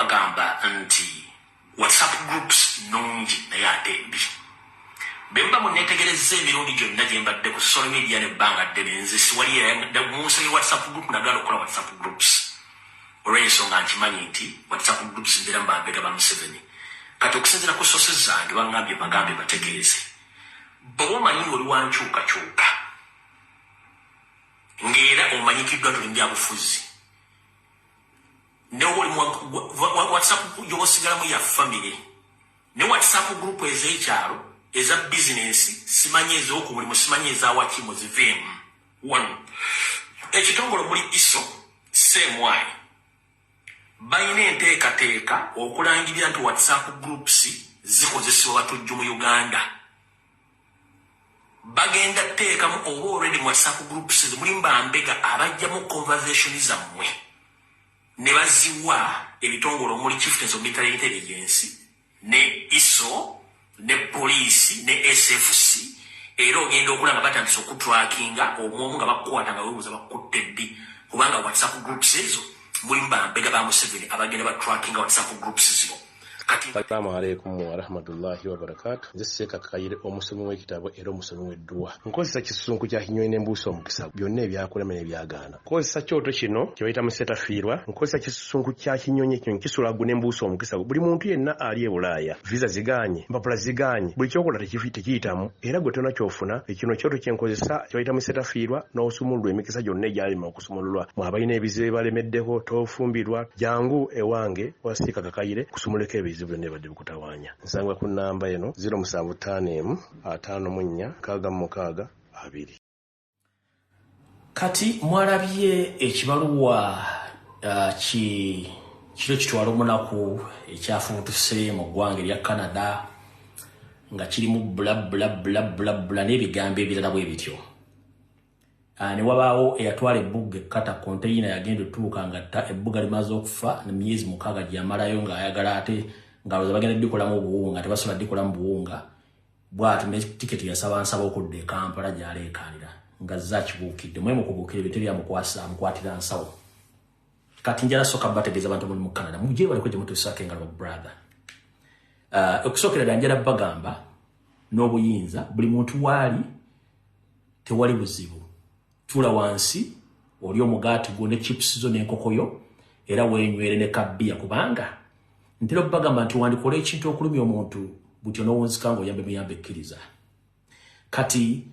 Bagamba nti WhatsApp groups nnungi naye ate mbi. Bwe muba munneetegerezza emirundi gyonna gye mbadde ku social media n'ebbanga ddene, nze siwali eyayagala mu nsi ya WhatsApp group nagaana okukola WhatsApp groups olw'ensonga nkimanyi nti WhatsApp groups mbeeramu bambega ba Museveni. Kati okusinziira ku sources zange bangambye bagambe bategeeze bw'oba omanyi ng'oli wa nkyukakyuka ng'era omanyikiddwa tuli mu byabufuzi ne woli whatsapp gyoba osigalamu ya famire ne whatsapp group ez'ekyalo eza bizinensi simanyi ez'oku buli musimanyi ezawaki muziveemu wano ekitongole muli iso seemwayi balina enteekateeka okulangirira nti whatsapp groups zikozesebwa batujju mu uganda bagenda teekamu oba already mu whatsapp groups ezo mulimu bambega abajjamu conversation zammwe ne baziwa ebitongole omuli chieftains of military intelligence ne iso ne poliisi ne sfc era ogenda okulaba batandisa okutrakinga omwomu nga bakukwata nga webuuza bakutte ddi kubanga whatsapp groups ezo mulimu bambega ba museveni abagenda batrakinga whatsapp groups zino salaamu aleikum warahmatullahi wabarakatu nze seeka kayire omusomi w'ekitabo era omusomi w'edduwa nkozesa kisunku kya kinyonyi ne mbuusa omukisa byonna ebyakulema ne byagaana nkozesa kyoto kino kye bayita musetafiirwa nkozesa kisunku kya kinyonyi ekinyonyi kisula ggu ne mbuusa omukisa buli muntu yenna ali e bulaaya viza zigaanye mpapula zigaanye buli kyokola tekiyitamu era gwe tona kyofuna ekino kyoto kye nkozesa kye bayita musetafiirwa n'osumululwa emikisa gyonna egyalema sumululwa mwe abalina ebizibu ebibalemeddeko tofumbirwa jangu ewange wasiika kakayire kusumuleko ebizibu byonna ebibadde bikutawaanya nsanga ku nnamba eno 075456 abiri kati mwalabye ekibaluwa uh, ki kiro kitwala omunaku ekyafubutuse mu ggwanga erya canada nga kirimu bula bula bula bula bula n'ebigambo ebirala bwe bityo Ah, ne wabaawo eyatwala ebbugga ekkata konteyina yagenda otuuka nga ta ebbuga limaze okufa ne myezi mukaaga gyeyamalayo ng'ayagala ate ngaloza bagenda dikolamu obuwunga tebasobola dikolamu buwunga bwati ne tiketi yasaba nsaba okudda ekampala gyaleekaanira nga zakibuukidde mwe mukubuukira ebintu ebyamukwasa amukwatira nsawo kati njala soka bategeeza abantu muli mu canada mugye baliko gye mutuusaako engalo brother ah, okusookera dda njala bagamba n'obuyinza buli muntu waali tewali buzibu tula wansi oli omugaati gwo ne chips zo n'enkoko yo era weenywere ne kabbiya kubanga ntera okubagamba nti wandikola ekintu okulumya omuntu butyo n'owunzika nga oyambe muyambe ekkiriza kati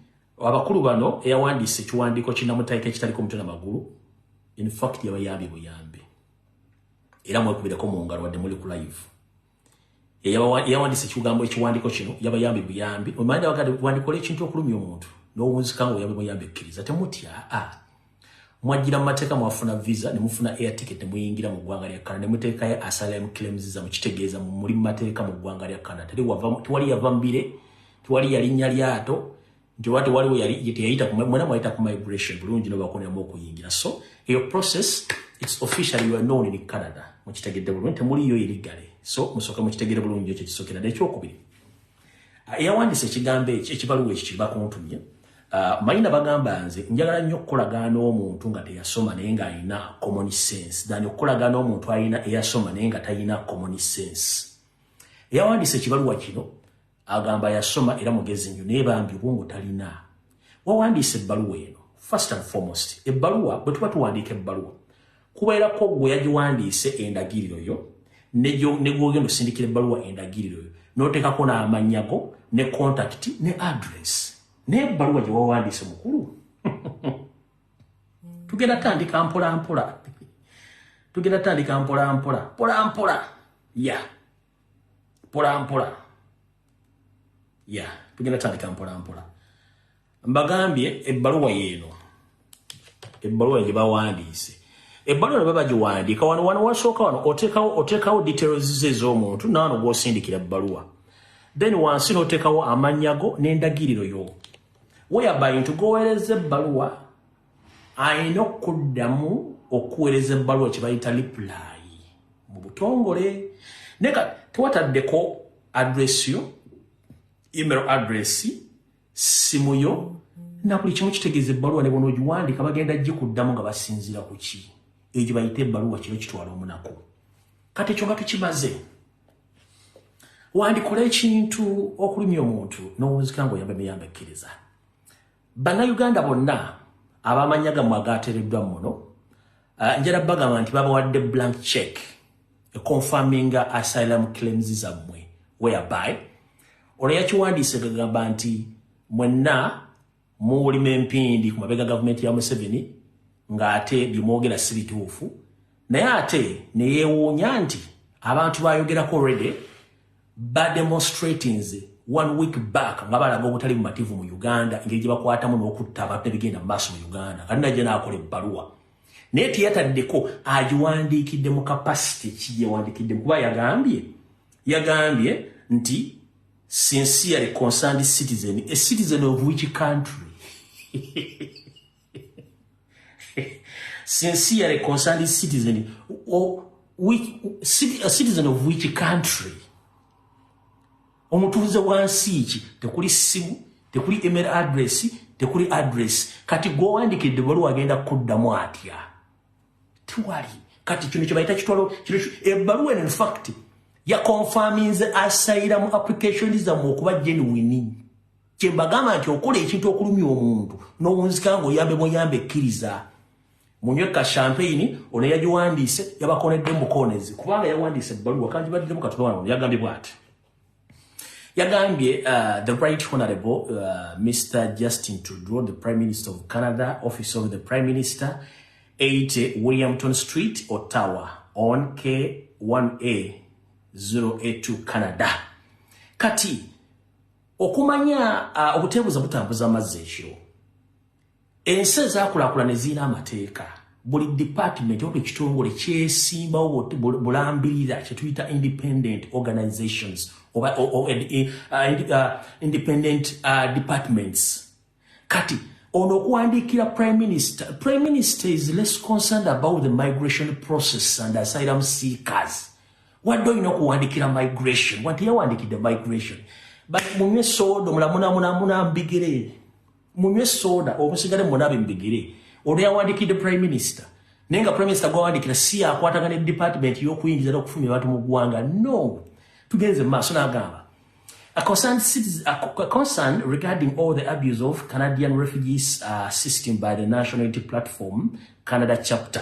abakulu bano eyawandiisa ekiwandiiko kinamutaika ekitaliko omutwe na magulu infact yabayambye buyambi era mwekubireko mu ngalo wadde muli ku live eyawandisa ekigambo ekiwandiko kino yabayambi buyambi omanda wagade wandikola ekintu okulumya omuntu nowunzika nga oyambi muyambi ekkiriza temutya a mwajjira mu mateeka mwafuna visa ne mufuna air ticket ne muyingira mu ggwanga lya canada ne muteekayo asylum claims za mukitegeeza muli mu mateeka mu ggwanga lya canada tewali yava mbire tewali yalinya lyato nti wati waliwo yali teyayita kuma mwena mwayita ku migration bulungi no bakoneramu okuyingira so eyo process it's official you are known in canada mukitegedde bulungi temuliyo iligale so musooka mukitegere bulungi ekyo kisokera naye ekyokubiri ah, eyawandiisa ekigambo ekyo ekibaluwa ekyo kyebakuntumye ah, mayina bagamba nze njagala nnyo okukolagaana omuntu nga teyasoma naye ng'alina common sense than okukolagaana omuntu alina eyasoma naye nga talina common sense eyawandiisa ekibaluwa kino agamba yasoma era mugezi nnyo naye bambi obwongo talina wawandiisa ebbaluwa eno first and foremost ebbaluwa bwe tuba tuwandiika ebbaluwa kubeerako gwe yagiwandiise endagiriro yo negwogenda osindikira ebbaluwa endagiriro yo n'oteekako n'amannya go ne kontakiti ne adress naye ebbaluwa gye wawandiise mukulu tugenda tandika mpolampola tugenda tandika mpolampola mpolampola ya yeah. mpolampola ya yeah, tugenda tandika mpolampola mbagambye ebbaluwa yeeno ebbaluwa ye gyebawandiise ebbaluwa ne babagiwandiika wano wano wasooka wano oteekawo oteekawo details ze ez'omuntu naano gwosindikira ebbaluwa then wansi n'oteekawo amannya go n'endagiriro yo weyabay nti goweereza ebbaluwa alina okuddamu okuweereza ebbaluwa kye bayita lipulaayi mu butongole naye ka tewataddeko adresi yo email adresi ssimu yo na buli kimu kitegeeza ebbaluwa ne bona ogiwandiika bagenda gikuddamu nga basinziira ku ki eyo gye bayita ebbaluwa kino kitwala omunaku kati ekyo nga tukimaze wandikola ekintu okulumya omuntu n'owunzika ng'oyamba emiyamba ekkiriza Bannayuganda bonna abamanya gamwe agaatereddwa muno eh, njala bagamba nti babawadde blank check econfirminga asylum claims zammwe whereby olwo yakiwandiise gagamba nti mwenna muwulima empindi ku mabega gavumenti ya museveni ng'ate byemwogera si bituufu naye ate ne yeewuunya nti abantu bayogerako rede ba demonstrators one week back nga balaga obutali bumativu mu Uganda engeri gye bakwatamu n'okutta abantu ebigenda mu maaso mu Uganda kati najja n'akola ebbaluwa naye teyataddeko agiwandiikidde mu kapasite ki gyewandiikidde kuba yagambye yagambye nti sincerely concerned citizen a citizen of which country sincerely concerned citizen or which, a citizen of which country omutuuze wansi ki tekuli simu tekuli email address tekuli address kati gwowandikidde bwaliwo agenda kuddamu atya tiwali kati kino kyebayita kitwalo ebbaluwa eno infact yakonfaminze asayira mu application zamu okuba genuwini kyembagamba nti okola ekintu okulumya omuntu nowunzika nga oyambe buyambe ekkiriza munywe ka champagne ono yagiwandiise yabakonedde mukonezi kubanga yawandiise ebbaluwa kandi baddemu katonda wano yagambye bwati yagambye uh, the right honorable uh, mr justin trudeau the prime minister of canada office of the prime minister 80 williamton street ottawa on k1a 082 canada kati okumanya uh, obuteebuza butambuza amazzi ekiro ensi ezakulakula ne ziina amateeka buli department oba ekitongole kyesimbawo bulambirira kyetuyita independent organizations oba uh, uh, uh, independent uh, departments kati ono okuwandiikira prime minister prime minister is less concerned about the migration process and asylum seekers wadde olina okuwandiikira migration wanti yawandikidde migration but munywe soda omulamunamunamuna mbigere munywe soda omusigale munabe mbigere ono yawandikidde prime minister naye nga prime minister gwawandikira si yakwatagana edepartment yokuyingiza nokufumya abantu mu ggwanga no tugenze mu maaso nagamba A concerned, citizen, a concern regarding all the abuse of Canadian refugees uh, system by the National Unity Platform Canada chapter.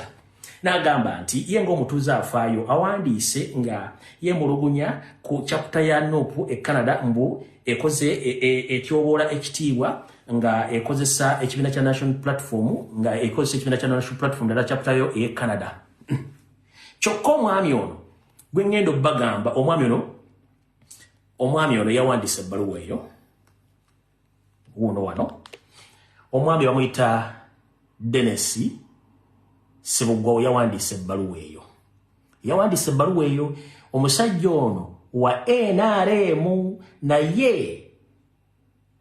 Nagamba nti ye ng'omutuuze afaayo awandiise nga yemulugunya ku chapter ya NOPU e Canada mbu ekoze e, e, etyoboola ekitiibwa nga ekozesa ekibiina kya National Platform nga ekozesa ekibiina kya National Platform dala chapter yo e Canada. Kyokka omwami ono gwe ng'enda okubagamba omwami ono omwami ono yawandiisa ebbaluwa eyo wuuno wano omwami bamuyita denesi sibuggwawo yawandiisa ebbaluwa eyo yawandiisa ebbaluwa eyo omusajja ono wa nrm naye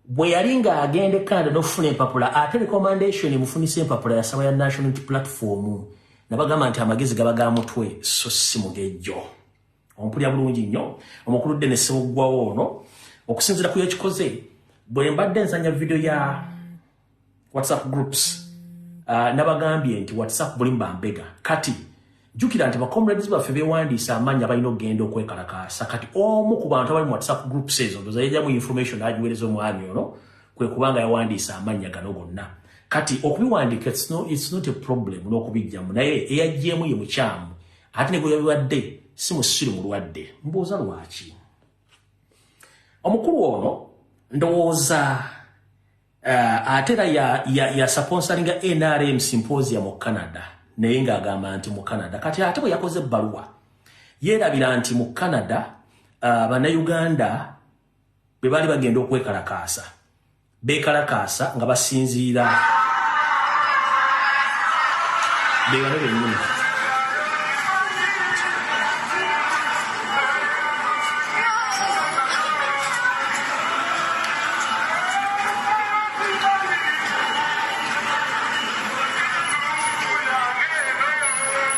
bwe yali ng'agenda ekanada n'okufuna empapula ate recommendation emufunisa empapula yasaba ya national platform nabagamba nti amagezi gaba ga mutwe so si mugejjo ompulira bulungi nnyo omukulu ddene sewuggwawo ono okusinzira ku yekikoze bwe mbadde nzanya vidiyo ya whatsapp groups uh, nabagambye nti whatsapp buli mbambega kati jukira nti bacomrades baffe bewandiisa amaanyi abalina okugenda okwekalakaasa kati omu ku bantu abali mu whatsapp groups ezo ndozayajamu information agiwereza omwami ono kwe kubanga yawandiisa amannya gano gonna kati okubiwandiika it's not a problem n'okubijjamu naye eyajjeemu ye mukyamu ate ne gweyabibadde si musiru mulwadde mbuuza lwaki omukulu ono ndowooza uh, ate era yasaponsalinga ya, ya nrm symposia mu canada naye ngaagamba nti mu canada kati ate bwe yakoze ebbaluwa yeerabira nti mu canada uh, bannayuganda bwe baali bagenda okwekalakaasa bekalakaasa nga basinziira bebano benyini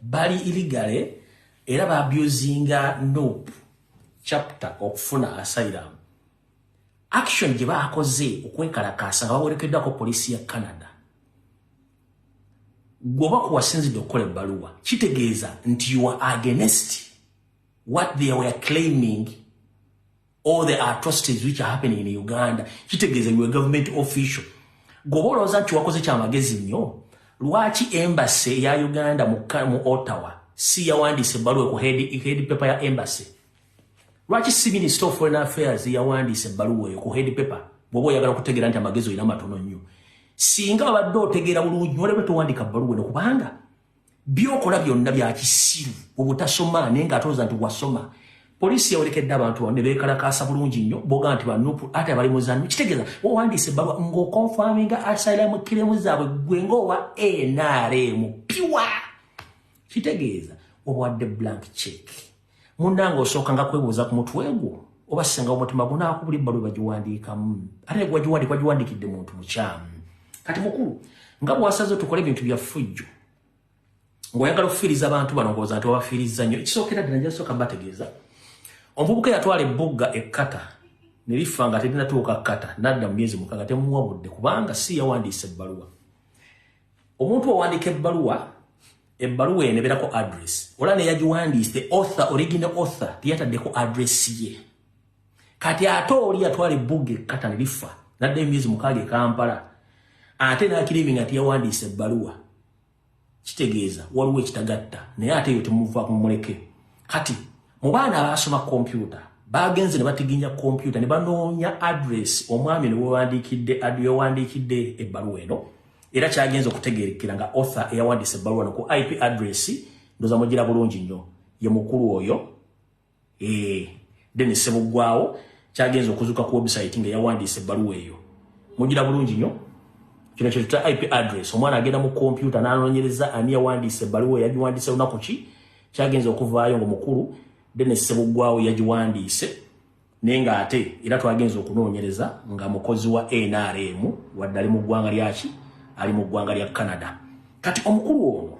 bali illegally era ba abusinga nope chapter okufuna asylum action gye baakoze okwekalakaasa nga bawerekeddwako poliisi ya canada gwoba kuwasinzidde okukola ebbaluwa kitegeeza nti you are against what they were claiming all the atrocities which are happening in Uganda kitegeeza you a government official goba olowooza nti wakoze kyamagezi nnyo lwaki embassy ya Uganda mu, mu Ottawa si yawandiise ebbaluwa ku head, head paper ya embassy lwaki si minister of foreign affairs yawandiise ebbaluwa eyo ku head paper bwoba oyagala okutegeera nti amagezi olina matono nnyo singa abadde otegeera bulungi nolebe towandika bbaluwa eno kubanga byokola byonna byakisiru obutasoma naye nga atooza nti wasoma poliisi yawerekedde abantu ne beekalakaasa bulungi nnyo boga nti banupu ate abali muzanyo kitegeeza owandiisa ebbaluwa ng'okonfaminga asailamu kiremu zaabwe gwe ng'owa nrm piwa kitegeeza obwadde blank check Munange osooka nga kwebuuza ku mutwe gwo oba senga omutima gunaakubula ebbalu bagiwandiikamu ate negwagiwandika giwandikidde muntu mukyamu kati mukulu nga bwasaze tukole ebintu byafujjo ng'oyagala okufiiriza abantu bano ngooza nti wabafiirizza nnyo ekisookera ddala njasooka mbategeeza omuvubuka yatwala ebbugga ekkata ne lifa nga terinatuuka kkata nadda mu myezi mukaga temuwa budde kubanga si yawandiisa ebbaluwa omuntu owandiika ebbaluwa Ebbaluwa eno ebeerako address olaba neyagiwandiise the author original author teyataddeko address ye kati ate oli yatwala ebbuga ekkata ne lifa nadde emyezi mukaaga ekampala ate nakirimi nga teyawandiise ebbaluwa kitegeeza waliwo ekitagatta naye ate eyo temuva kumuleke kati mu baana abaasoma kompyuta bagenze ne batiginya kompyuta ne banoonya address omwami ne wewandiikidde yawandiikidde ebbaluwa eno era kyagenze okutegerekera nga author eyawandiisa ebbaluwa no ku ip address ndoza mugira bulungi nnyo ye mukulu oyo ee eh, denis sebuggwawo kyagenze okuzuka ku website nga eyawandiisa ebbaluwa eyo mugira bulungi nnyo kino kyetuta ip address omwana agenda mu kompyuta nanonyereza ani yawandiisa ebbaluwa eyagiwandiisa lunaku ki kyagenze okuvaayo nga omukulu denis sebuggwawo yagiwandiise naye nga ate era twagenza okunoonyereza nga mukozi wa nrm wadde ali mu ggwanga lyaki ali mu ggwanga lya canada kati omukulu ono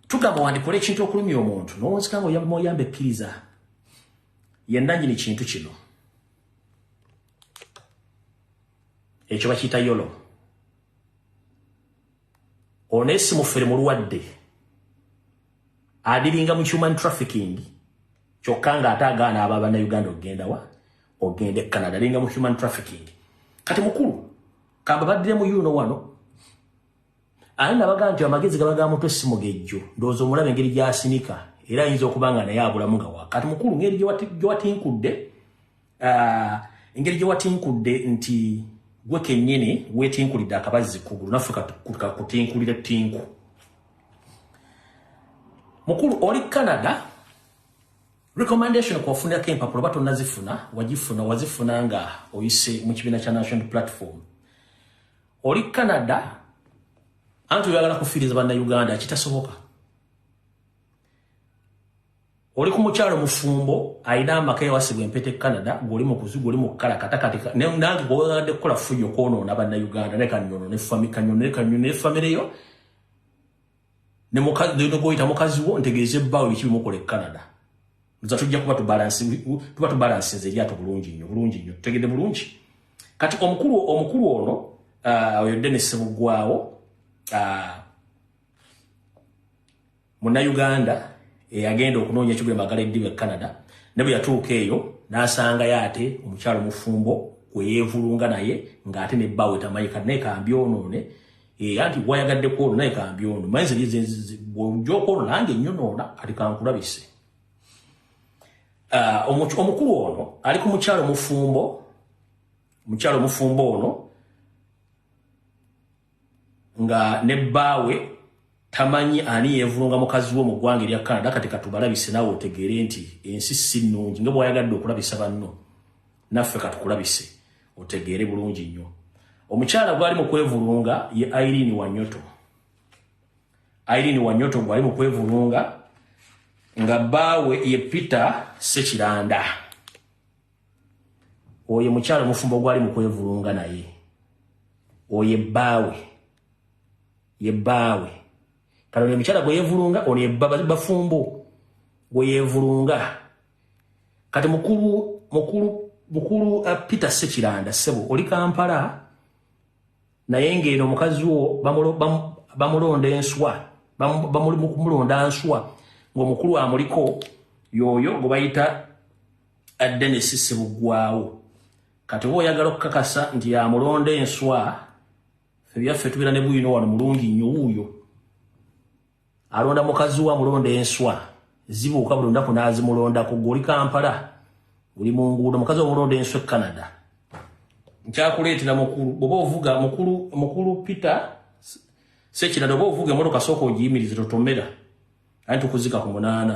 tugamba wandikola ekintu okulumya omuntu nowonsika nga oyamba oyamba ekkiriza yendanyini kintu kino ekyo bakiyita yolo Ono naye si mufere mulwadde. Adiringa mu human trafficking. Kyokka nga ate agaana aba bannayuganda okugenda wa? Ogenda e Canada. Adiringa mu human trafficking. Kati mukulu, kamba baddire mu yuno wano. Ani nabaga nti amagezi gaba ga mutwe si mugejjo. Ndowooza omulaba engeri gy'asinika. Era ayinza okuba nga naye abulamu nga wa. Kati mukulu, ngeri gye watinkudde. Ah, engeri gye watinkudde nti gwe kennyini weetinkulidde akabazzi kugulu naffe kakutinkulire tinku mukulu oli canada recommendation kwafunirako empapula oba tonazifuna wagifuna wazifuna nga oyise mu kibiina kya national platform oli canada anti oyagala kufiiriza bannauganda kitasoboka oli ku mukyalo mufumbo alina amaka yawasibwa empeta e canada ngoli mukuzigu oli mukukala katakatika nange gwewagadde kukola fuyo kwonoona bannauganda ne kanyono ne fami kanyono ne kanyono ne famire yo negwoyita mukazi wo ntegeeza ebbaawo biki bimukola e canada nza tujja kuba tuba tubalansinze eryato bulungi nnyo bulungi nnyo tutegedde bulungi kati omukulu omukulu ono uh, oyo denis mugwawo uh, Munnayuganda eyagenda okunoonya ekigula emagala eddiba e Canada ne bwe yatuuka eyo n'asangayo ate omukyala omufumbo gwe yeevulunga naye ng'ate ne bbawe tamanyi kati naye kambyonoone era eh, nti wayagadde kwolwo naye kambyono manyi zebwojja okwolwo nange nyonoona kati kankulabise ah, omukulu ono ali ku mukyalo omufumbo mukyalo omufumbo ono nga ne bbaawe tamanyi ani yeevulunga mukazi wo mu ggwanga erya canada kati katubalabise naawe otegeere nti ensi si nnungi nga bwayagadde okulabisa banno naffe katukulabise otegeere bulungi nnyo omukyala gwali mu kwevulunga ye irene wanyoto irene wanyoto gwali mu kwevulunga nga bbaawe ye peter sekiranda oyo mukyalo mufumbo gwali mukwevulunga naye oyo ebbaawe yebbaawe kano ne mukyala gweyevulunga ono ebafumbo gweyevulunga kati mukulu mukulu mukulu uh, peter sekiranda sebo oli kampala naye ngaeno omukazi wo bamulonda enswa bamulonda nswa ngaomukulu amuliko yoyo gwebayita Dennis Ssebuggwawo kati oba oyagala okukakasa nti yamulonda enswa ebyaffe tubeera ne buyino wano mulungi nnyo wuuyo alonda mukazi wa mulonda enswa zibuuka buli lunaku n'azimulondako gwe oli kampala oli mu nguudo mukazi omulonda enswa e canada nkyakuleetera mukulu bwoba ovuga mukulu mukulu peter sekirada oba ovuga emotoka sooka ogiyimirize totomera anti tukuzika ku munaana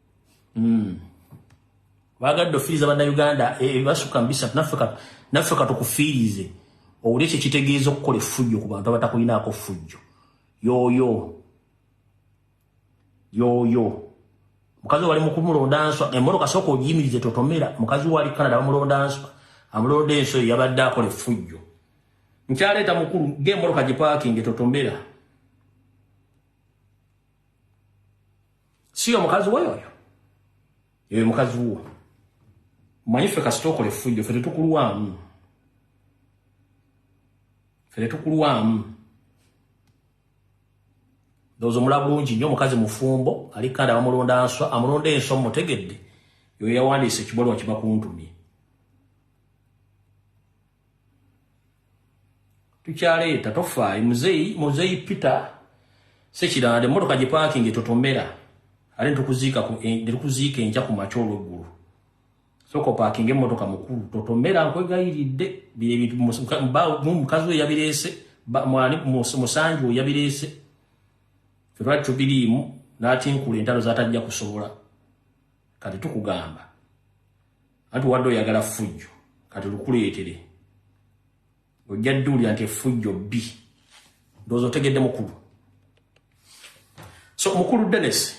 mm. bagadde ofiiriza bannayuganda e, ebasukka mubisatu naffe katukufiirize owuli ekyo kitegeeza okukola effujjo ku bantu abatakulinaako ffujjo yooyo yooyo mukazi wali mukumulonda nswa emmotoka sooka ogiyimirize totomera mukazi wali canada bamulonda nswa amulonda enso eyo yabadde akola effujjo nkyaleeta mukulu ng'emmotoka gipaakinge totomera siyo mukazi we oyo eyo mukazi wo manyi ffe kasita okola effujjo fe tetukulwamu fe tetukulwamu ndowooza omula bulungi nnyo omukazi mufumbo ali kandi abamulonda nswa amulonda enswa mumutegedde yoyo yawandiisa ekibalwa kibakuntumye tukyaleeta tofaayo muzeyi muzeyi peter sekiranda emmotoka gye paakingi totomera ate netukuziika eh, enkya ku makya olweggulu sooka opaakinga emmotoka mukulu totomera nkwegayiridde byebintu mukazi we yabireese musanji we yabireese fetwali tubiriimu n'atinkula entalo zatajja kusobola kati tukugamba anti wadde oyagala fujjo kati lukuleetere ojja dduulira nti efujjo bbi ndowooza otegedde mukulu so mukulu denis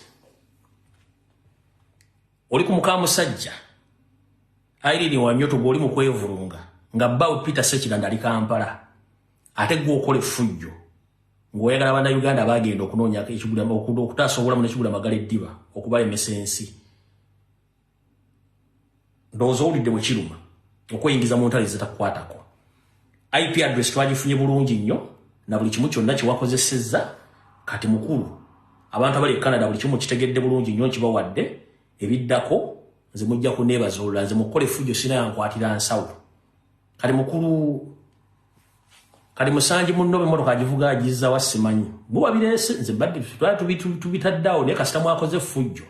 oli ku mukamusajja airini wanyoto gweoli mu kwevulunga nga bbawe peter sekiranda ali kampala ate gwe okola efujjo ng'oyagala bana uganda bagenda okunoonya ekigula okutaasa obulamu nekigula magala eddiba okubalemesa ensi ndowooza owulidde bwe kiruma okweyingiza mu ntale zitakukwatako ip address twagifunye bulungi nnyo na buli kimu kyonna kyewakozesezza kati mukulu abantu abali e canada buli kimu kitegedde bulungi nnyo nkibawadde ebiddako nze mujja kuneebazuulula nze mukukola efujjo sina yankwatira nsawo kati mukulu kati musanji munno bemotoka agivuga agizza wa simanyi buba bireese nze badde tubitaddeawo naye kasita mwakoze efujjo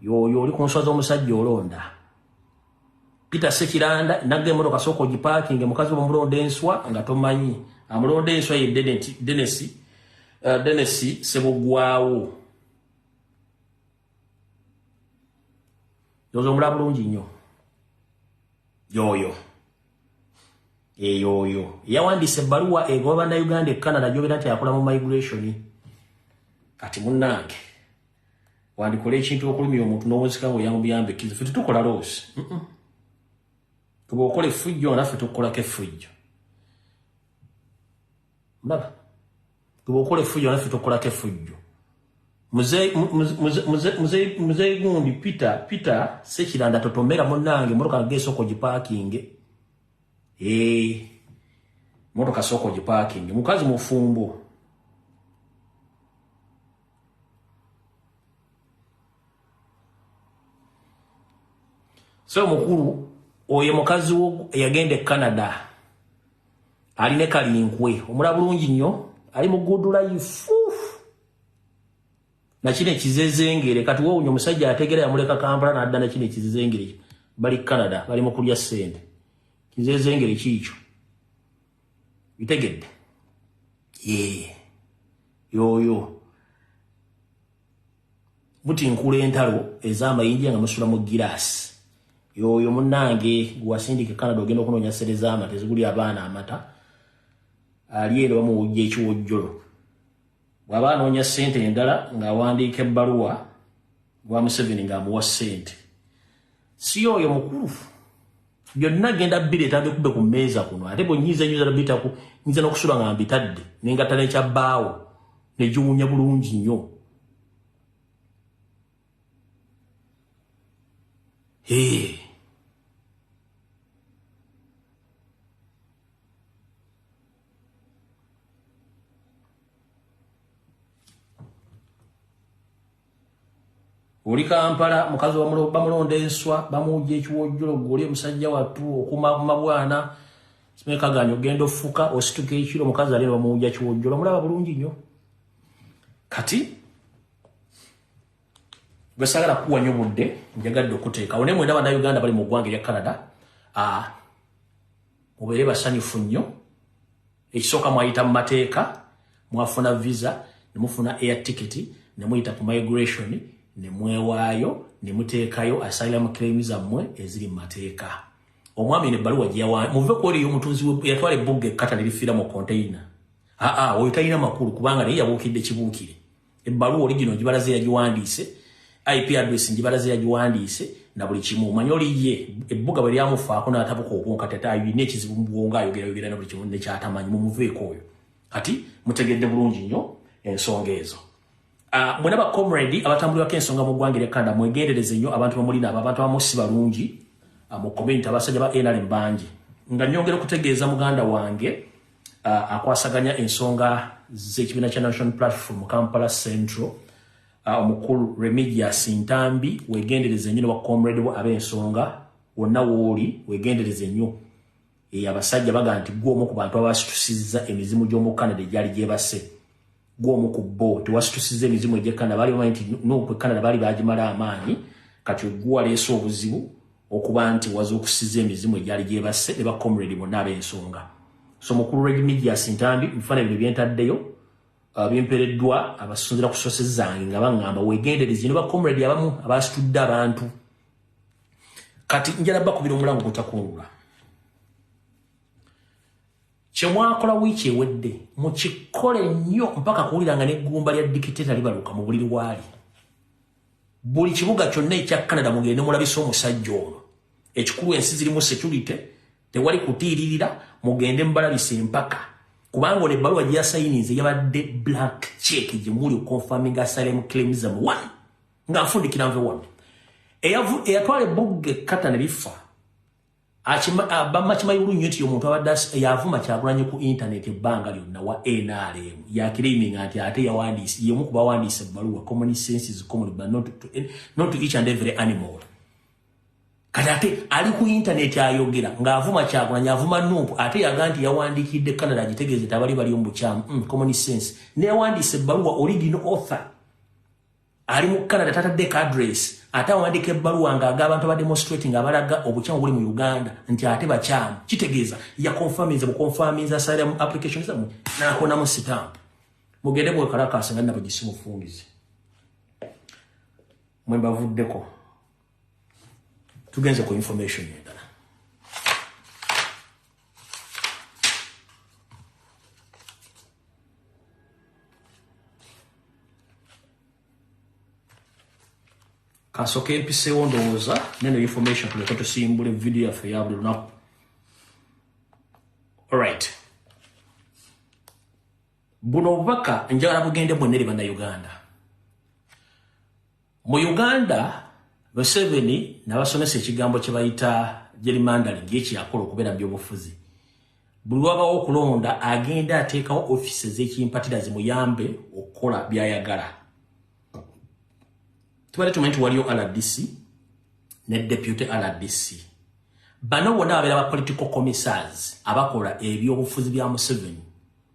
yoyo oli kunswa z'omusajja olonda peter sekiranda nagga emotoka sooka ogipaakinge mukazi omulonda enswa nga tomanyi amulonda enswa ye denesi uh, denesi eh, sebugwawo yozo omulaba bulungi nnyo yoyo eyooyo yawandiisa ebbaluwa egoba bannayuganda e canada gyobera nti akola mu migration kati munnange wandikola ekintu okulumya omuntu nowonsika nga oyamubuyambe kizife tetukola loosi kuba okola efujjo nga naffe tukukolako efujjo ndaba bwokola efujjo naffe tokolako efujjo muzeyi gundi peter peter sekiranda totomera munange motoka nage esoko gipakinge eh, motoka soko gipakinge mukazi mufumbo so mukulu oyo mukazi wo eyagenda e canada ali ne kalinkwe omula bulungi nnyo ali mu good life nakino ekizezengere kati wowunya omusajja ategera yamuleka kampala nadda nakino ekizezengere bali canada bali mu kulya ssente kizezengere kiikyo bitegedde yee yoyo mutinkula entalo ez'amayinja nga musula mu giraasi yoyo munange gwewasindika ekanada ogenda okunoonya sere z'amata eziguli abaana amata ali era bamuwujja ekiwojjolo bw'aba anoonya ssente endala ng'awandiika ebbaluwa gwa museveni ng'amuwa ssente si yoyo mukulufu byonna genda bireeta bikube ku mmeeza kuno ate bwenyiza enyo zala bitaku nyiza nokusula nga mbitadde nengatta nekya bbaawo negiwunya bulungi nnyo oli kampala mukazi bamulonda enswa bamuwujja ekiwojjolo guli omusajja wattu okumamabwana simekaganyo ogenda ofuka osituka ekiro omukazi alina bamuwujja kiwojjolo omulaba bulungi nnyo kati gwesagala kuwa nyo budde njagadde okuteekawo naye mwena banauganda bali mu ggwanga erya canada ah, mubeere basanyufu nnyo Ekisooka mwayita mu mateeka, mwafuna visa, ne mufuna air ticket, ne muyita ku migration, ne mwewaayo, ne muteekayo asylum claim zammwe eziri mu mateeka. Omwami eno ebbaluwa gye yawa muve ku oyo omutunzi yatwala ebbugga ekkata ne lifiira mu konteyina. Aa oyo talina makulu kubanga naye yabuukidde kibuukire. ebbaluwa oligino ngibalaze yagiwandiise ip address ngibalaze yagiwandiise na buli kimu omanye oli ye ebbuga bwe lyamufaako n'atabuka obwonka tata alina ekizibu mu bwongo ayogerayogera na buli kimu nekyatamanyi mumuveeko oyo kati mutegedde bulungi nnyo ensonga ezo ah, mwena bacomredi abatambulirako ensonga mu ggwanga eryakanda mwegendereze nnyo abantu bamulina abo abantu abamu si balungi ah, mu community abasajja ba nrm bangi nga nyongera okutegeeza muganda wange uh, akwasaganya ensonga z'ekibiina kya national platform mu kampala central uh, omukulu remigius ntambi wegendereze nnyo newacomrade wo ab'ensonga wonna wooli wegendereze nnyo eyo abasajja baga nti gwomu ku bantu abasitusizza emizimu gy'omu canada egyali gyebase gwomu ku bo tewasitusiza emizimu egye canada baali bamanyi nti noku e canada baali bagimala amaanyi kati oguwaleese obuzibu okuba nti waza okusiza emizimu egyali gyebasse ne bacomrade bonna ab'ensonga so mukulu reg media sintambi nfana bino byentaddeyo uh, byempereddwa abasinzira ku sose zange nga baŋŋamba wegenderezi ne bacomrade abamu abasitudde abantu kati njala bakubira omulango gutakunula Kyemwakola wiiki ewedde mukikole nnyo mpaka kuwulira nga neggumba lya dikiteta libaluka mu buliri waali. Buli kibuga kyonna ekya Canada mugende mulabise omusajja ono. Ekikulu ensi zirimu security, tewali kutiiririra, mugende mubalabise empaka. Kubanga ono ebbaluwa gye yasayinize yabadde black check gye muli okonfaminga asylum claims am one ng'afundikira nve wano. Eyatwala ebbugge kata ne bifa Bamma kimanyi bulungi nyo nti omuntu abadde yavuma kyagulanyi ku intaneti ebbanga lyonna wa nrm yakiriiminga nti ate yawandiise yemu ku bawandiise ebbaluwa common senses common but not to, eh, not to each and every animal kati ate ali ku intaneti ayogera ng'avuma kyagulanyi avuma nuupu ate yaga nti yawandiikidde canada agitegeeze nti abali bali omubukyamu mm, common sense neyawandiise ebbaluwa origin author ali mu canada tatadde cadres ate awandika ebbaluwa nga aga abantu abademonstrating abalaga obukyamu buli mu uganda nti ate bakyamu kitegeeza yakonfaminza bukonfaminza asalira mu application zamwe nakonamu sitamp mugende bwekalakaasa nga nabo gisi mufungize mwe mbavuddeko tugenze ku information endala kasoka empisewo ndowooza neno information tuleka tusimbula evidiyo yaffe ya buli lunaku alright buno obubaka njagala bugende bwonna eri bannayuganda Mu Uganda, Museveni nabasomesa ekigambo kye bayita gerrymandering ye kyeyakola okubeera mu byobufuzi. Buli wabawo okulonda agenda ateekawo ofiisi ez'ekimpatira zimuyambe okukola byayagala. Tubadde tumanyi nti waliyo RDC ne deputy RDC. Bano bona babeera ba political commissars abakola ebyobufuzi bya Museveni.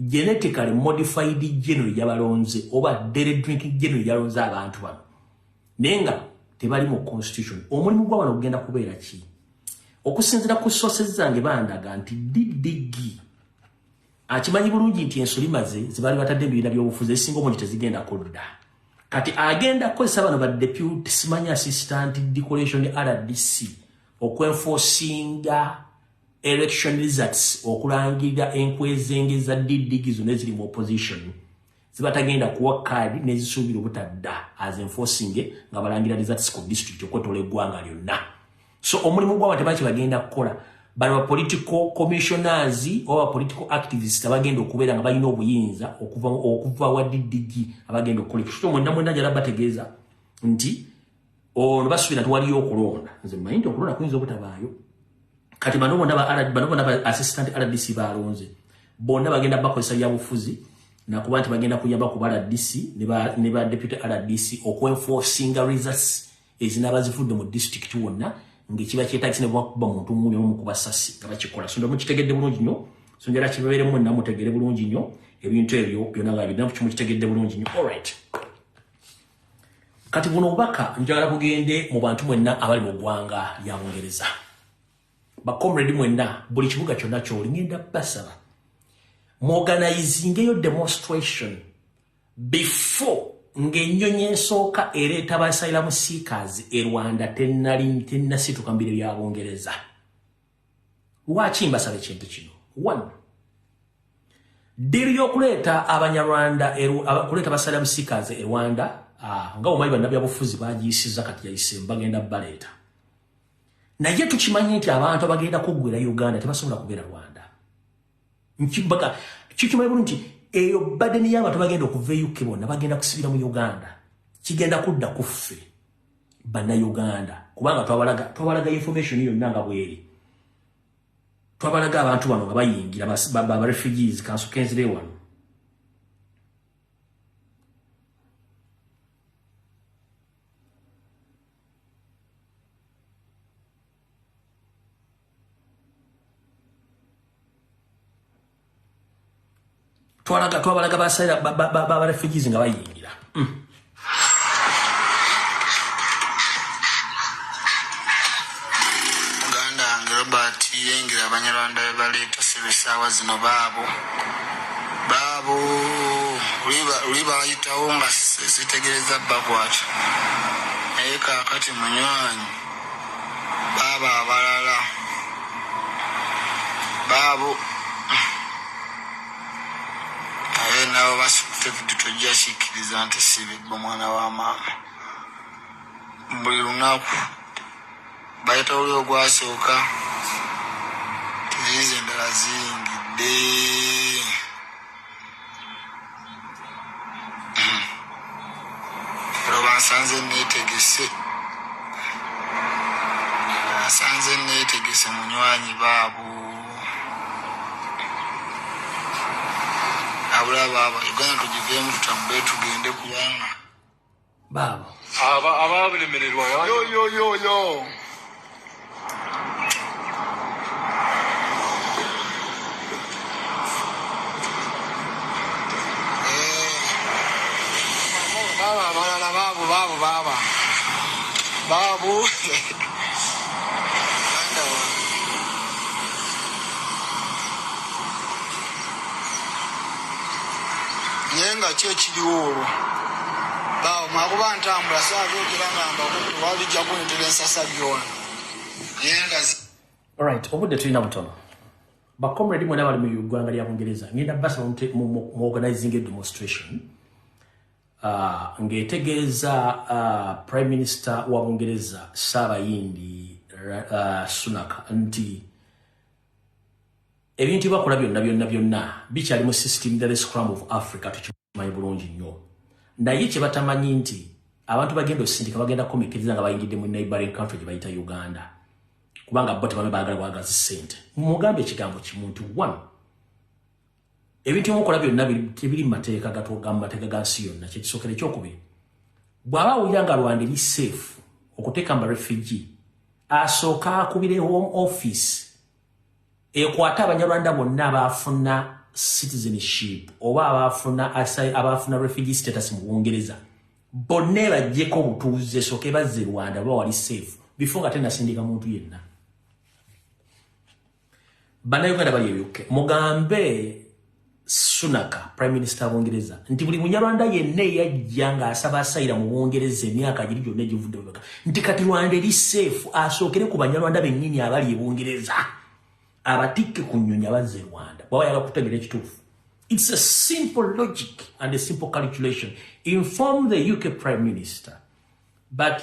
genetically modified geno yabalonze oba dere drinking geno yalonze abantu bano naye nga tebali mu constitution omulimu gwa bano ogenda kubeera ki okusinzira ku sources zange bandaga nti ddg akimanyi bulungi nti ensoli maze zibali batadde ebibiina byobufuzi ezisinga omungi tezigenda kudda kati agenda kukozesa bano badepute simanyi assistant decoration rdc okwenfosinga election results okulangirira enkwezenge za ddigi zonna eziri mu opposition zibatagenda kuwa kaadi nezisuubira obutadda as enforcing nga balangira results ku district okwetola eggwanga lyonna so omulimu gwaba tebaki bagenda kukola bali ba political commissioners oba political activists abagenda okubeera nga balina obuyinza okuva wa ddigi abagenda okukola ekyo kyo mwenda mwenda njala bategeeza nti olwo basubira nti waliyo okulonda nze mmanyi nti okulonda kuyinza obutabaayo kati bano bonna bano bonna ba assistant rdc balonze bonna bagenda bakozesa byabufuzi nakuba nti bagenda kuyamba ku ba rdc ne ba deputy rdc okuenforcinga results ezinaba zivudde mu district wonna ngaekiba kyetagisa ne bwakuba muntu muni omu ku basasi nga bakikola so nda mukitegedde bulungi nnyo so njala kibeeremu mwenna mutegere bulungi nnyo ebintu ebyo byonna nga biddamu kimukitegedde bulungi nnyo all right Kati buno obubaka njagala bugende mu bantu mwenna abali mu ggwanga lya Bungereza. Bakomredi mwenna buli kibuga kyonna kyoli ngenda basaba muorganizingeyo demonstration before ng'ennyonyi esooka ereeta basairamu siikazi e Rwanda tennasituka mu biro bya Bungereza. lwaki mbasaba ekintu kino one ddiru y'okuleeta abanyarwanda okuleeta basala busikazi e rwanda ah, nga omanyi bannabyabufuzi bagiyisiza kati yayise bagenda baleeta naye tukimanyi nti abantu abagenda kuggwera uganda tebasobola kubeera rwanda nkibaga kikimanyi bulu nti eyo badeni y'abantu bagenda okuva e uk bonna bagenda kusibira mu uganda kigenda kudda kuffe bannayuganda kubanga twabalaga twabalaga information yonna nga bweri twabalaga abantu bano nga bayingira barefugees kansukenzire wano twalaga twabalaga basayira baba refugees nga bayingira hmm. muganda wange robert yengira abanyarwanda bebaleeta sebesaawa zino baabo baabo luli bayitawo nga zitegereza bakwata naye kakati munywanyi Baabo abalala baabo naye nabo basukute vidu tojja kikkiriza nti sibibba omwana wa maama buli lunaku bayita oli ogwasooka tiziizi endala ziyingidde nsanze netegese nsanze netegese munywanyi baabo abula baaba uganda tugiveemu tutambule tugende kubanga baabo abalemererwa naye nga ki ekiriwo olwo bawo mwakuba ntambula sabyogera nga mbakutte walijja kuntera ensasa byona naye nga right obudde tulina butono bacomrade mwena bali mu ugwanga lya bungereza ngenda basaba muorganizing a demonstration uh, ng'etegeeza uh, prime minister wa bungereza saabayindi uh, sunak nti ebintu bakola byonna byonna byonna bikyali mu system the scrum of africa tukimanyi bulungi nnyo naye kye batamanyi nti abantu bagenda osindika bagenda komikiriza nga bayingidde mu neighboring country gye bayita uganda kubanga bo tebame baagala bwagazi sente mumugambe ekigambo kimuntu one ebintu byomukola byonna tebiri mumateeka gamateeka ga nsi yonna kyekisookera ekyokubiri bw'aba awulira nga rwanda eri safe okuteeka mba refugi asooka akubire home office ekwate abanyarwanda bonna abaafuna citizenship oba abaafuna abaafuna refugi status mu bungereza bonna ebajjeko obutuuze sooke bazze rwanda oba wali safe before nga tenasindika muntu yenna bannayuganda bali ebyukke mugambe sunaka prime minister bungereza nti buli munyarwanda yenna eyajja ng'asaba asayira mu bungereza emyaka giri gyonna egivudde mumeka nti kati rwanda eri seefu asookere ku banyarwanda bennyini abali e bungereza abatikke ku nnyonyi abazze e rwanda bwaba yala kutegera ekituufu its a simple logic and a simple calculation inform the uk prime minister but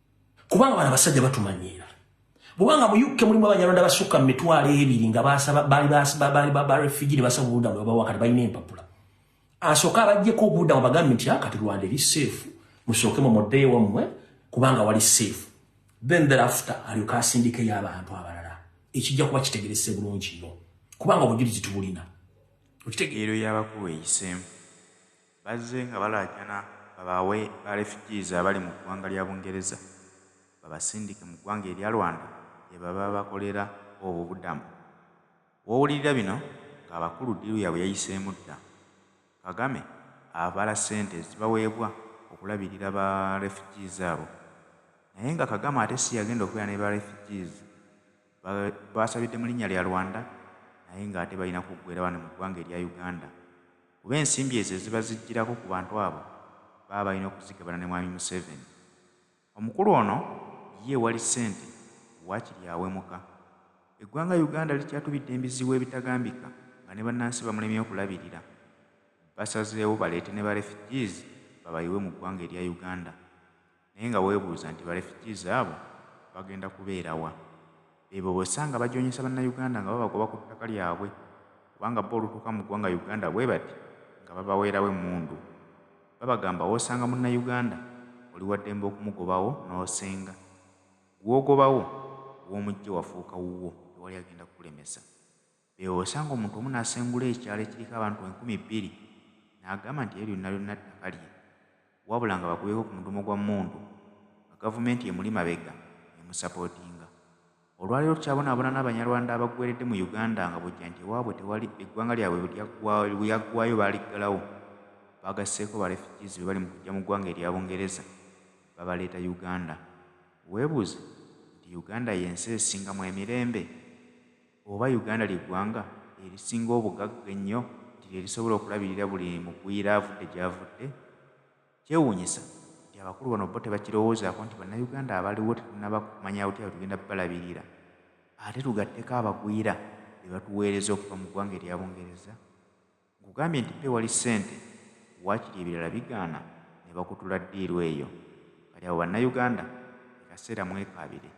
kubanga bana basajja batumanyiira bwobanga mu uk mulimu abanyarwanda basukka mu mitwalo ebiri nga barefugee ne basaba obubudamu babawa kati balina empapula asooke abajjeko obubudamu bagambe nti ah, kati rwanda eri seefu musookemu muddeyo wammwe kubanga wali seefu then thereafter alyoka asindikeyo abantu abalala ekijja kuba kitegerese bulungi no kubanga obujulizi tubulina okitegeero yabakuwa eyiseemu Bazze nga balaajana babaawe ba refugees abali mu ggwanga lya Bungereza babasindike mu ggwanga erya Rwanda gyebaba bakolera obubudamu. Wowulirira bino nga abakulu ddiiru yabwe yayiseemu dda. Kagame abala ssente ezibaweebwa okulabirira ba refugees abo. Naye nga Kagame ate siyagenda okubeera ne ba refugees. basabidde mu linnya lya Rwanda naye ng'ate balina kuggweera wano mu ggwanga erya Uganda kuba ensimbi ezo eziba zijjirako ku bantu abo baba balina okuzigabana ne Mwami Museveni. Omukulu ono ye wali ssente waakiri awemuka. Eggwanga Uganda likyatubidde embizibu ebitagambika nga ne bannansi bamulemye okulabirira. Basazeewo baleete ne ba refugees babayiwe mu ggwanga erya Uganda. naye nga webuuza nti ba refugees abo bagenda kubeera wa? Beebo bosanga bajonyesa bannauganda nga babagoba ku ttaka lyabwe kubanga bo olutuuka mu ggwanga Uganda bwebati nga babaweerawo emmundu. Babagamba wosanga munnauganda oli waddembe okumugobawo nosenga. Gwogobawo womujje wafuuka wuwo tewali agenda kukulemesa. Eyo w'osanga omuntu omu n'asengula ekyalo ekiriko abantu enkumi bbiri n'agamba nti eryo lyonna lyonna ttaka lye wabula nga bakubyeeko ku mudumo gwa mmundu nga gavumenti emuli mabega emusapootinga. Olwaleero tukyabonaabona n'Abanyarwanda abaggweeredde mu Uganda nga bw'ojja nti ewaabwe tewali, eggwanga lyabwe lyaggwaayo baaliggalawo, baagasseeko ba refugees be bali mu kuggya mu ggwanga erya Bungereza babaleeta Uganda. Weebuuze nti Uganda y'ensi esingamu emirembe? Oba Uganda lye ggwanga erisinga obugagga ennyo nti lye lisobola okulabirira buli mugwira avudde gy'avudde? Kyewuunyisa nti abakulu bano bo tebakirowoozaako nti Bannayuganda abaliwo tetunnaba kumanya butya bwe tugenda balabirira ate tugatteko abagwira be batuweereza okuva mu ggwanga erya Bungereza? Nkugambye nti pewali sente wakiri ebirala bigaana nebakutula diiru eyo kati abo bannauganda kekaseera mwekaabire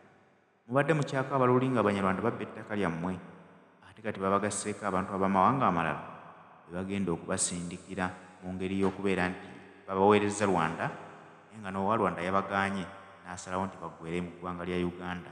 mubadde mukyakaaba luli nga abanyarwanda babba ettaka lyammwe ate kati babagasseeko abantu abamawanga amalala bebagenda okubasindikira mungeri yokubeera nti babaweerezza Rwanda naye nga nowalwanda yabagaanye nasalawo nti baggweere mu ggwanga lya Uganda.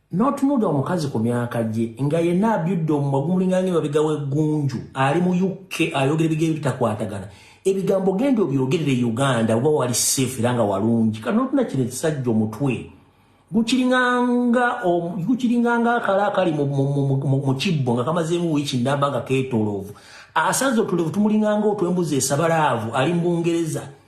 Notunulira omukazi ku myaka gye nga yenna abyudde omumwa gumulinga ng'emabega w'eggunju ali mu UK ayogera ebigambo ebitakwatagana. Ebigambo genda obyogerere e Uganda oba wali safe era nga walungi. Kati notuna kino ekisajja omutwe gukiringanga gukiringanga akala akali mu kibbo nga kamazeemu wiiki nnamba nga keetooloovu. Asaze otulevu tumulinganga otw'embuzi esabalaavu ali mu Bungereza.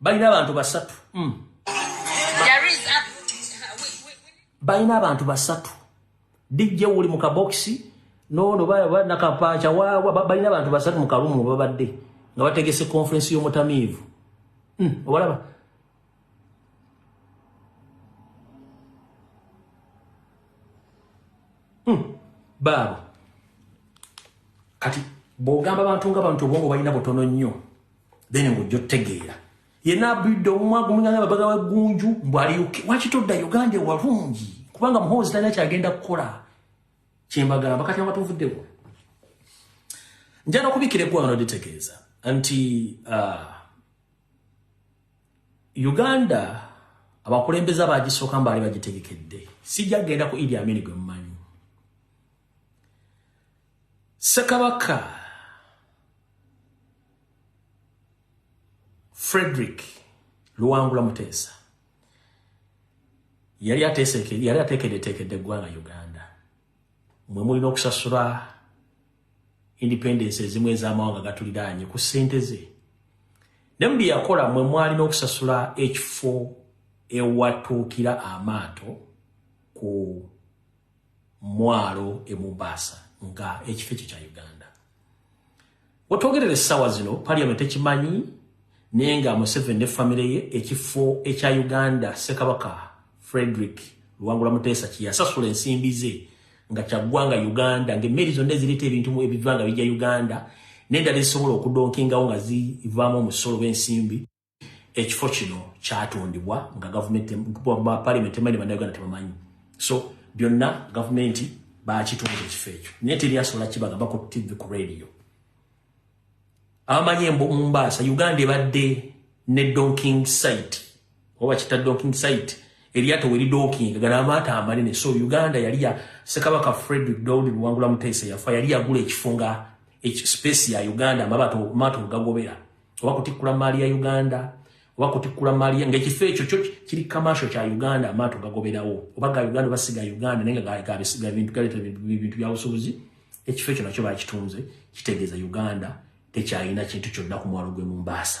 balina abantu basatu mm. balina abantu basatu dijje wuli mu kabokisi nono banakapaaca wawa balina abantu basatu mu kalumu babadde nga bategese konferensi y'omutamiivu mm. obalaba mm. Hmm. baabo kati bwogamba bantu nga bantu obwongo balina butono nnyo then ng'ojja otegeera yena abidde omumwagu muganga babaga wa gunju mbu ali uk waki todda uganda ewalungi kubanga muhoozi talina kyagenda kukola kyembagamba kati abatuvuddeko njala okubikira eggwanga noditegeeza nti uh, uganda abakulembeza bagisooka mbaali bagitegekedde sijja kugenda ku idi amini gwe mumanyi sekabaka frederick luwangula muteesa yali yali ateekedeteekedde eggwanga uganda mwe mulina okusasula independence ezimu ez'amawanga gatuliraanye ku ssente ze ne mu bye yakola mwe mwalina okusasula ekifo ewatuukira amaato ku mwalo e Mombasa nga ekifo ekyo kya Uganda. Wetwogerera essaawa zino parliament ekimanyi naye nga Museveni ne famire ye ekifo ekya Uganda Ssekabaka Frederick Luwangula Muteesa kyeyasasula ensimbi ze nga kyaggwanga Uganda ng'emmeeri zonna ezireeta ebintu ebiva nga bijja Uganda n'endala ezisobola okudonkingawo nga zivaamu omusolo b'ensimbi ekifo kino kyatondebwa nga gavumenti palimenti emanyi bannayuganda tebamanyi so byonna gavumenti bakitonda ekifo ekyo naye teri asobola kibagamba ku tv ku radio abamanyi emumbaasa uganda ebadde ne donking site oba kita donking site eryato weri donking gana amaata amanene so uganda yali ya sekabaka frederick dowd luwangula muteesa yafa yali yagula ekifo nga space ya uganda amaato gagobera oba kutikkula maali ya uganda oba kutikkula maali ngaekifo ekyo kyo kiri kamasho kya uganda amaato gagoberawo oba ga uganda oba siga uganda naye ngagabisiga bintu galeeta bintu byabusubuzi ekifo ekyo nakyo bakitunze kitegeeza uganda tekyalina kintu kyonna ku mwalo gwe mumbaasa